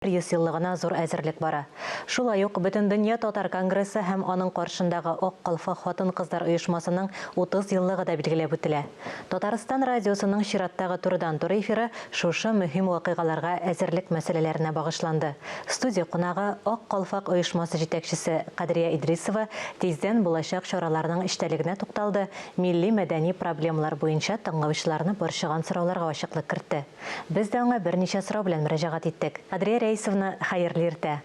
100 еллыгына зур әзерлек бара. Шулай ук Бөтендөнья татар конгрессы һәм аның каршындагы Ак калфа хатын-кызлар оешмасының 30 еллыгы да билгеләп үтелә. Татарстан радиосының чираттагы турыдан-туры эфиры шушы мөһим вакыйгаларга әзерлек мәсьәләләренә багышланды. Студия кунагы, Ак калфак оешмасы җитәкчесе Кадрия Идрисова тиздән булачак чараларның эчтәлегенә тукталды, милли-мәдәни проблемалар буенча тыңлаучыларны борчыган сорауларга ачыклык кертте. Без дә аңа берничә сорау белән мөрәҗәгать иттек. Адрия Рәисовна, хәерле иртә.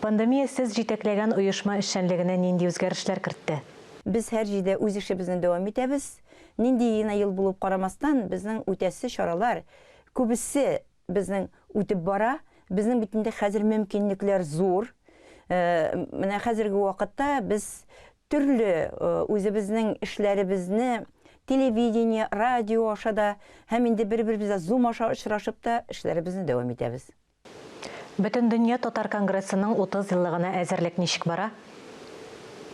Пандемия сез җитәкләгән оешма эшчәнлегенә нинди үзгәрешләр кертте? Без һәр җирдә үз эшебезне дәвам итәбез. Нинди генә ел булып карамастан, безнең үтәсе чаралар, күбесе безнең үтеп бара. Безнең бит инде хәзер мөмкинлекләр зур. Менә хәзерге вакытта без Төрле үзебезнең эшләребезне телевидение, радио аша да һәм инде бер-беребезгә Zoom аша очрашып та эшләребезне дәвам итәбез. Бөтендөнья татар конгрессының 30 еллыгына әзерлек ничек бара?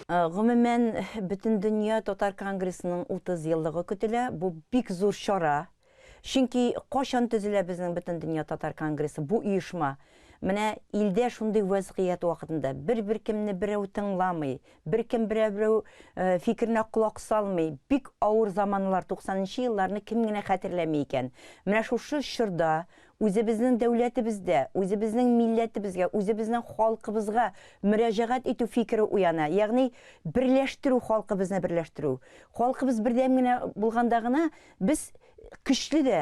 Гомумән, Бөтендөнья татар конгрессының 30 еллыгы көтелә. Бу бик зур чара. Чөнки качан төзелә безнең Бөтендөнья татар конгрессы, бу оешма? Менә илдә шундый вәзгыять вакытында, бер-беркемне берәү тыңламый, беркем берәү фикеренә колак салмый, бик авыр заманнар, туксанынчы елларны кем генә хәтерләми икән? Менә шушы чорда үзебезнең дәүләтебездә, үзебезнең милләтебезгә, үзебезнең халкыбызга мөрәҗәгать итү фикере уяна, ягъни берләштерү, халкыбызны берләштерү. Халкыбыз бердәм генә булганда гына Без көчле дә,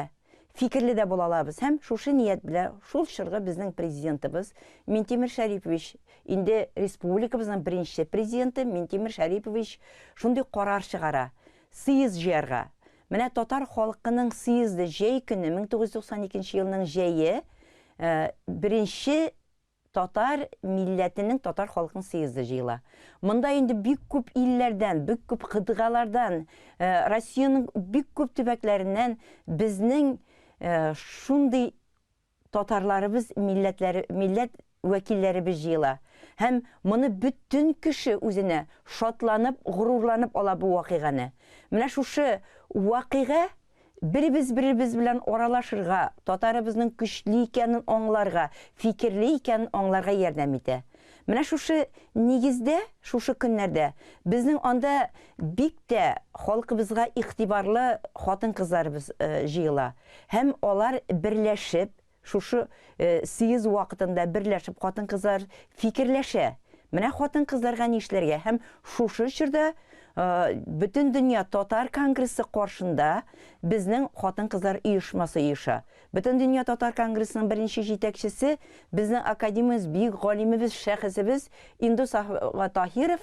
фикерле дә була алабыз һәм шушы ният белән шул чоргы безнең Президентыбыз Минтимер Шәрипович, инде республикабызның беренче Президенты Минтимер Шәрипович шундый карар чыгара, сыез җыярга. Менә татар халкының сыезды җәй көне, 1992 елның җәе, беренче Татар милләтенең татар халкының съезды җыела. Монда инде бик күп илләрдән, бик күп кыдгалардан, Россиянең бик күп төбәкләреннән безнең шундый татарларыбыз, милләтләр, милләт вәкилләребез җыела. Һәм моны бөтен кеше үзенә шатланып, горурланып ала бу вакыйганы. Менә шушы вакыйга Беребез-беребез белән аралашырга, татарыбызның көчле икәнен аңларга, фикерле икәнен аңларга ярдәм итә. Менә шушы нигездә, шушы көннәрдә безнең анда бик тә халкыбызга игътибарлы хатын-кызларыбыз җыела һәм алар берләшеп, Шушы съезд вакытында берләшеп хатын-кызлар фикерләшә, менә хатын-кызларга нишләргә һәм шушы чорда Бөтендөнья татар конгрессы каршында безнең хатын-кызлар оешмасы оеша. Бөтендөнья татар конгрессының беренче җитәкчесе, безнең академиябез, бөек галимебез, шәхесебез Индус ага Таһиров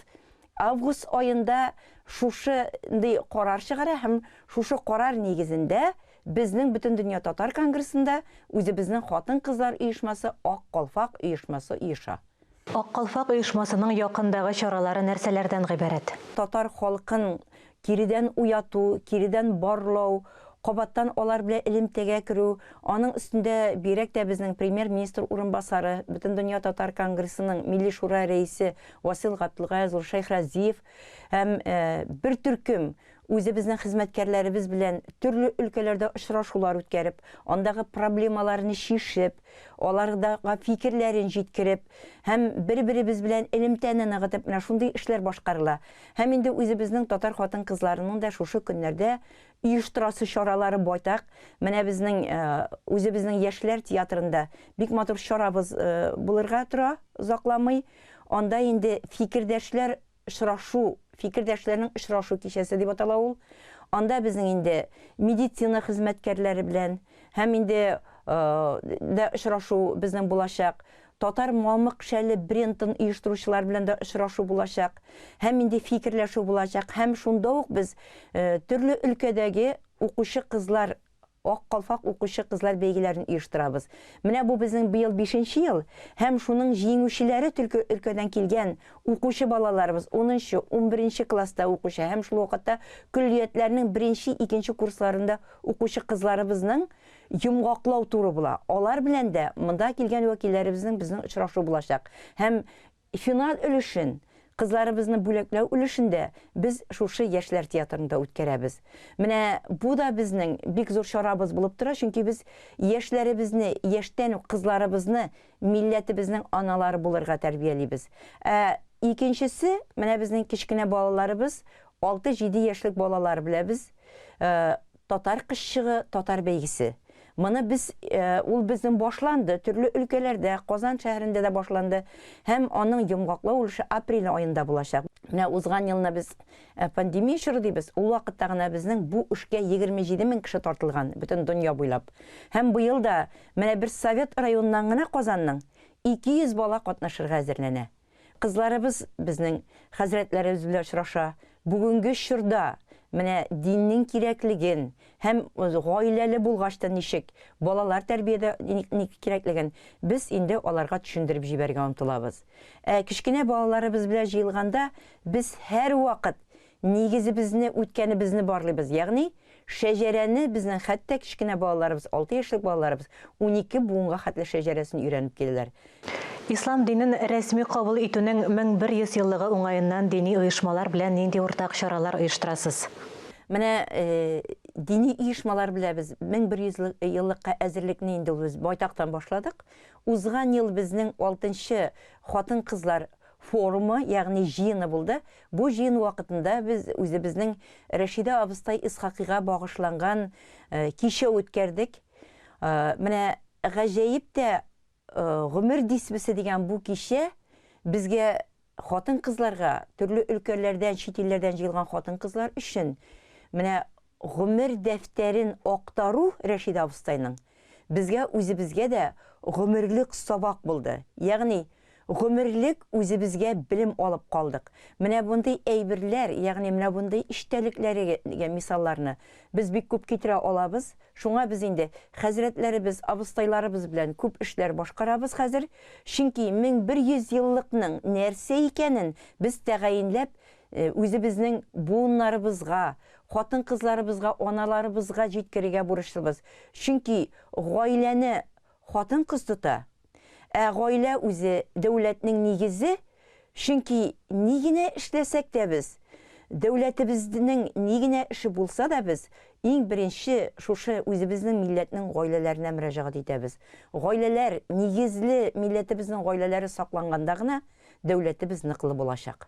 август аенда шушындый карар чыгара һәм шушы карар нигезендә Безнең Бөтендөнья татар конгрессында үзебезнең хатын-кызлар оешмасы Ак калфак оешмасы оеша. Ак калфак оешмасының якындагы чаралары нәрсәләрдән гыйбарәт? Татар халкын киредән уяту, киредән барлау, кабаттан алар белән элемтәгә керү, аның өстендә бигрәк тә безнең Премьер-министр урынбасары, Бөтендөнья татар конгрессының Милли шура рәисе Васил Габделгаязулы Шәйхразиев һәм бер төркем Үзебезнең хезмәткәрләребез белән төрле өлкәләрдә очрашулар үткәреп, андагы проблемаларны чишеп, аларга фикерләрен җиткереп һәм бер-беребез белән элемтәне ныгытып менә шундый эшләр башкарыла. Һәм инде үзебезнең татар хатын-кызларының да шушы көннәрдә оештырасы чаралары байтак. Менә безнең үзебезнең яшьләр театрында бик матур чарабыз булырга тора, озакламый. Анда инде фикердәшләр очрашу, фикердәшләрнең очрашу кичәсе дип атала ул. Анда безнең инде медицина хезмәткәрләре белән һәм инде дә очрашу безнең булачак. Татар мамык шәле брендын оештыручылар белән дә очрашу булачак. Һәм инде фикерләшү булачак. Һәм шунда ук без төрле өлкәдәге укучы кызлар Ак калфак укучы кызлар бәйгеләрен оештырабыз. Менә бу безнең быел бишенче ел һәм шуның җиңүчеләре төлке өлкәдән килгән укучы балаларыбыз, унынчы, унберенче класста укучы һәм шул вакытта көллиятләрнең беренче, икенче курсларында укучы кызларыбызның йомгаклау туры була. Алар белән дә, монда килгән вәкилләребезнең безнең очрашу булачак һәм Финал өлешен, кызларыбызны бүләкләү өлешен дә без шушы Яшьләр театрында үткәрәбез. Менә бу да безнең бик зур чарабыз булып тора, чөнки без яшьләребезне, яшьтән үк кызларыбызны милләтебезнең аналары булырга тәрбиялибез. Ә икенчесе, менә безнең кечкенә балаларыбыз, алты-җиде яшьлек балалар беләбез, Татар кызчыгы татар бәйгесе. Моны без ул безнең башланды, төрле өлкәләрдә, Казан шәһәрендә дә башланды һәм аның йомгаклау өлеше апрель аенда булачак. Менә узган елны без пандемия чоры дибез, ул вакытта гына безнең бу эшкә егерме җиде мең кеше тартылган, бөтен дөнья буйлап. Һәм быел да менә бер Совет районыннан гына Казанның ике йөз бала катнашырга әзерләнә. Кызларыбыз безнең хәзрәтләребез белән очраша. Бүгенге чорда менә диннең кирәклеген һәм гаиләле булгач та ничек балалар тәрбиядә ник кирәклеген без инде аларга төшендереп җибәрергә омтылабыз. Ә кечкенә балаларыбыз белән җыелганда без һәрвакыт Нигезебезне, үткәнебезне барлыйбыз, ягъни шәҗәрәне безнең хәтта кечкенә балаларыбыз, алты яшьлек балаларыбыз унике буынга хәтле шәҗәрәсен өйрәнеп киләләр. Ислам динен рәсми кабул итүнең 1100 еллыгы уңаеннан дини оешмалар белән нинди уртак чаралар оештырасыз? Менә дини оешмалар белән без 1100 еллыкка әзерлекне инде ул без байтактан башладык. Узган ел безнең алтынчы хатын-кызлар форумы, ягъни җыены булды. Бу җыен вакытында без үзебезнең Рәшидә абыстай Исхакыйга багышланган кичә үткәрдек. Менә гаҗәеп тә, Гомер дисбесе дигән бу кичә безгә, хатын-кызларга, төрле өлкәләрдән, чит илләрдән җыелган хатын-кызлар өчен, менә Гомер дәфтәрен актару Рәшид абыстайның безгә үзебезгә дә гомерлек сабак булды. Ягъни, гомерлек үзебезгә белем алып калдык. Менә бундый әйберләр, ягъни менә бундый эчтәлекләргә мисалларны без бик күп китерә алабыз. Шуңа без инде хәзрәтләребез, абыстайларыбыз белән күп эшләр башкарабыз хәзер. Чөнки 1100 еллыкның нәрсә икәнен без тәгаенләп Үзебезнең буыннарыбызга, хатын-кызларыбызга, аналарыбызга җиткерергә бурычлыбыз. Чөнки гаиләне хатын-кыз тота. Ә гаилә үзе, дәүләтнең нигезе. Чөнки ни генә эшләсәк тә без, дәүләтебезнең ни генә эше булса да без, иң беренче шушы үзебезнең милләтнең гаиләләренә мөрәҗәгать итәбез. Гаиләләр нигезле, милләтебезнең гаиләләре сакланганда гына дәүләтебез ныклы булачак.